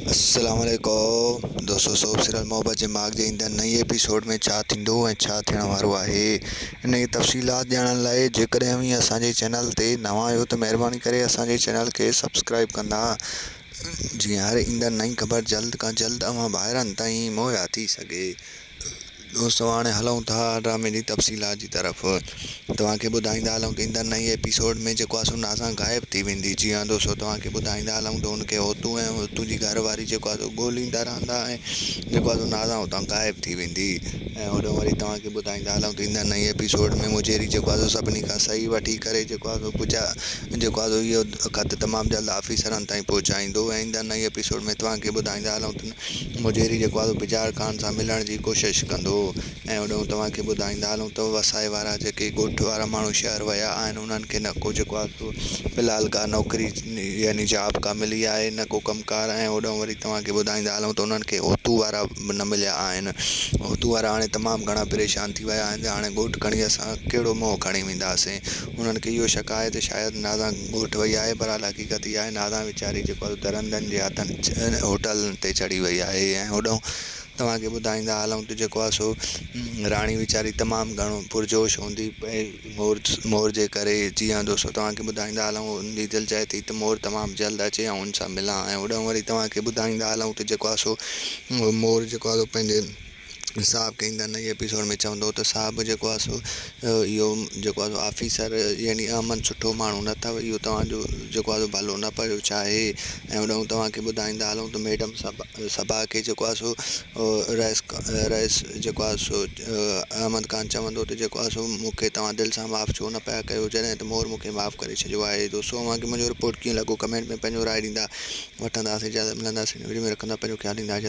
السلام عليڪم دوستو سوپ سيريل محبت جي ماڳ جي ايندڙ نئين ايپيسوڊ ۾ ڇا ٿيندو ۽ ڇا ٿيڻ وارو آهي انهي جي تفصيلات ڄاڻڻ لاء جيڪڏهن اوهين اسان جي چينل تي نوان آهيو ته مهرباني ڪري اسان جي چينل کي سبسڪرائيب ڪندا جيئن هر ايندڙ نئين خبر جلد کان جلد اوهان ڀائرن تائين مهيا ٿي سگهي دوستو هاڻي هلون ٿا ڊرامي جي تفصيلات جي طرف توهان کي ٻڌائيندا هلون ته ايندڙ نئين ايپيسوڊ ۾ جيڪو آسو ناسان غائب ٿي ويندي جي ها دوستو توهان کي ٻڌائيندا هلون ته ان کي هوتو ۽ هوتو جي گهر واري جيڪو آسو ڳوليندا رهندا ۽ جيڪو آسو ناسان هتان غائب ٿي ويندي ۽ هوڏهون وري توهان کي ٻڌائيندا هلون ته ايندڙ نئين ايپيسوڊ ۾ مجيري جيڪو آسو سڀني کان صحيح وٺي ڪري جيڪو آسو پجا جيڪو آسو اهو خط تمام جلد آفيسرن تائين پهچائيندو ۽ ايندڙ نئين ايپيسوڊ ۾ توهان کي ٻڌائيندا هلون ته مجيري جيڪو آهي سو بجار خان سان ملڻ جي ڪوشش ڪندو ۽ هوڏنهن توهان کي ٻڌائيندا هلون ته وسائي وارا جيڪي ڳوٺ وارا ماڻهو شهر ويا آهن انهن کي نه ڪو جيڪو آهي سو في الحال ڪا نوڪري يعني جاب ڪا ملي آهي نه ڪو ڪم ڪار ۽ هوڏنهن وري توهان کي ٻڌائيندا هلون ته انهن کي اوتو وارا به نه مليا آهن اوتو وارا هاڻي تمام گهڻا پريشان ٿي ويا آهن ته هاڻي ڳوٺ کڻي اسان ڪهڙو منهن کڻي وينداسين انهن کي اهو شڪ آهي ته شايد نازان ڳوٺ وئي آهي، برحال حقيقت اها آهي نازان ويچاري جيڪو آهي سو درندن جي هٿن هوٽل تي چڙهي وئي آهي ۽ هوڏانهن توهان کي ٻڌائيندا هلون ته جيڪو آهي سو راڻي ويچاري تمام گهڻو پرجوش هوندي پئي مور مور جي ڪري جيئندو سو توهان کي ٻڌائيندا هلون هن جي دل چاهي ٿي ته مور تمام جلد اچي ۽ هن سان ملان ۽ هوڏانهن وري توهان کي ٻڌائيندا هلون ته جيڪو آهي سو مور جيڪو آهي سو پنهنجي صاحب ڪئين ته انهيء ايپيسوڊ ۾ چوندو ته صاحب جيڪو آهي سو اهو جيڪو آهي سو آفيسر يعني احمد سٺو ماڻهو نه اٿو اهو توهانجو جيڪو آهي سو ڀلو نه پيو چاهي ۽ هوڏانهن توهان کي ٻڌائيندا هلون ته ميڊم صبا صبا کي جيڪو آهي سو رئيس رئيس جيڪو آهي سو احمد خان چوندو ته جيڪو آهي سو مون کي توهان دل سان معاف ڇو نه پيا ڪيو جڏهن ته مور مون کي معاف ڪري ڇڏيو آهي دوستو اوهان کي منهنجو رپورٽ ڪيئن لڳو ڪمينٽ ۾ پنهنجو راء ڏيندا وٺنداسين اجازت ملنداسين ويڊيو ۾ رکندا پنهنجو خيال ڏيندا اجازت.